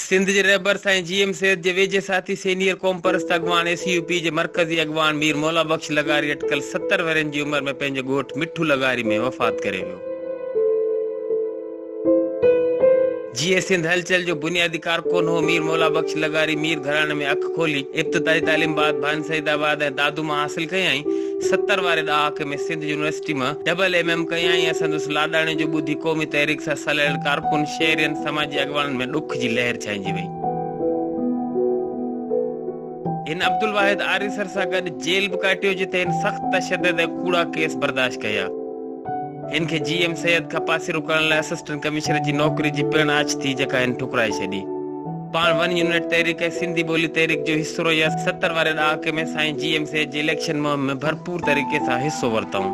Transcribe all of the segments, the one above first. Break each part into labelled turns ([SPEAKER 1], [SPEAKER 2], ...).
[SPEAKER 1] سنڌ
[SPEAKER 2] جي رهبر سائين جي ايم سيد جي ويجهي ساٿي سينيئر قومپرست اڳواڻ اي سي يو پي جي مرڪزي اڳواڻ مير مولا بخش لغاري اٽڪل ستر ورهين جي عمر ۾ پنهنجي ڳوٺ مٺو لغاري ۾ وفات ڪري ويو. جيئي سنڌ هلچل جو بنيادي ڪارڪن هو مير مولا بخش لغاري مير گهراڻي ۾ اک کولي ابتدائي تعليم بعد ڀائن سعيد آباد ۽ دادو مان حاصل ڪيائين. ستر واري ڏهاڪي ۾ سنڌ يونيورسٽي مان ڊبل ايم ايم ڪيائين ۽ سندس لاڏاڻي جو ٻڌي قومي تحريڪ سان سلهيل ڪارڪن، شهرين، سماجي اڳواڻن ۾ ڏک جي لهر ڇائنجي وئي. هن عبدالواحد آريسر سان گڏ جيل به ڪاٽيو جتي هن سخت تشدد ۽ ڪوڙا ڪيس برداشت ڪيا. هن کي جي ايم سيد کان پاسيرو ڪرڻ لاء اسسٽنٽ ڪمشنر جي نوڪري جي پڻ آڇ ٿي جيڪا هن ٺڪرائي ڇڏي. پاڻ ون يونٽ تحريڪ ۽ سنڌي ٻولي تحريڪ جو حصو رهي ۽ ستر واري ڏهاڪي ۾ سائين جي ايم سيد جي اليڪشن مهم ۾ ڀرپور طريقي سان حصو ورتائون.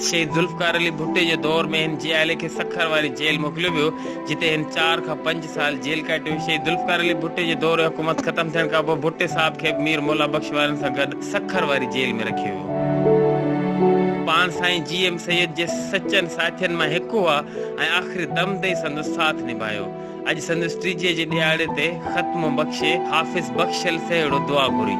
[SPEAKER 2] شهيد ذوالفقار علي ڀٽي جي دور ۾ هن جي عائلي کي سکر واري جيل موڪليو ويو جتي هن چار کان پنج سال جيل ڪاٽي هئي. شهيد ذوالفقار علي ڀٽي جي دور حڪومت ختم ٿيڻ کانپوء ڀٽي صاحب کي به مير مولا بخش وارن سان گڏ سکر واري جيل ۾ رکيو ويو. پاڻ سائين جي ايم سيد جي سچن ساٿين مان هڪ هئا ۽ آخري دم تائين سندس ساٿ نڀايو. اڄ سندس ٽيجهي جي ڏهاڙي تي ختمو بخشي حافظ بخشل سهيڙو دعا گهري.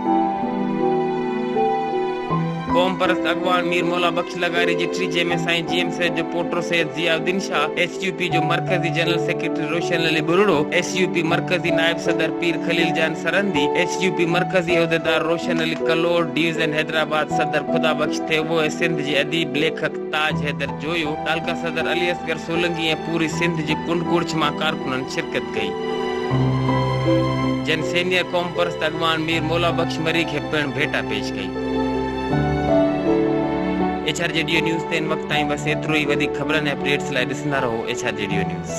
[SPEAKER 2] قومپرست اڳواڻ مير مولا بخش لغاري جٺري جنهن ۾ سائين جي ايم سيد جو پوٽو Syed Zia uddin Shah, S U P جو مرڪزي general secretary Roshan Ali Buriro, S U P مرڪزي نائب صدر Pir Khalil Jan Sirhindi, S U P مرڪزي عهديدار روشن علي ڪلوڙ، ڊويزن حيدرآباد صدر خدا بخش ٿيٻو ۽ سنڌ جي اديب ليکڪ تاج حيدر جويو، تعلقه صدر علي اصغر سولنگي ۽ پوري سنڌ جي ڪنڊ ڪڙڇ مان ڪارڪنن شرڪت ڪئي. جن سينيئر قومپرست اڳواڻ مير مولا بخش مريڪ هي پڻ ڀيٽا پيش ڪئي. ايڇ آر جي ڊيو نيوز تي ان وقت تائين بس ايترو ئي وڌيڪ خبرن ۽ اپ ڊيٽس لاء ڏسندا رهو ايڇ آر جي ڊيو نيوز.